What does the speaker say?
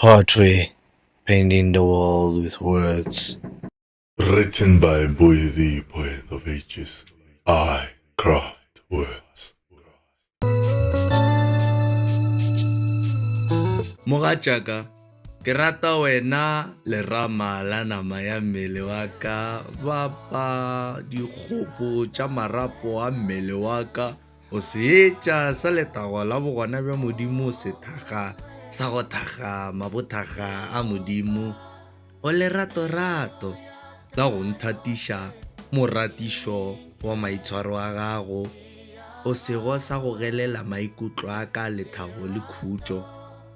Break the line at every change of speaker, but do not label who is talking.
Hartwig, Painting the World with Words. Written by Boy the Poet of Ages, I Craft Words. Mogatšaka, ke rata wena lerama la nama ya mmele wa ka, bapa dikgopo tša marapo a mmele wa ka, O seetša sa letago la bogona bja Modimo Sethakga sa go thakga mabothakga a Modimo O leratorato la go nthatiša Moratišo wa maitshwaro a gago O sego sa go gelela maikutlo a ka lethabo le khutšo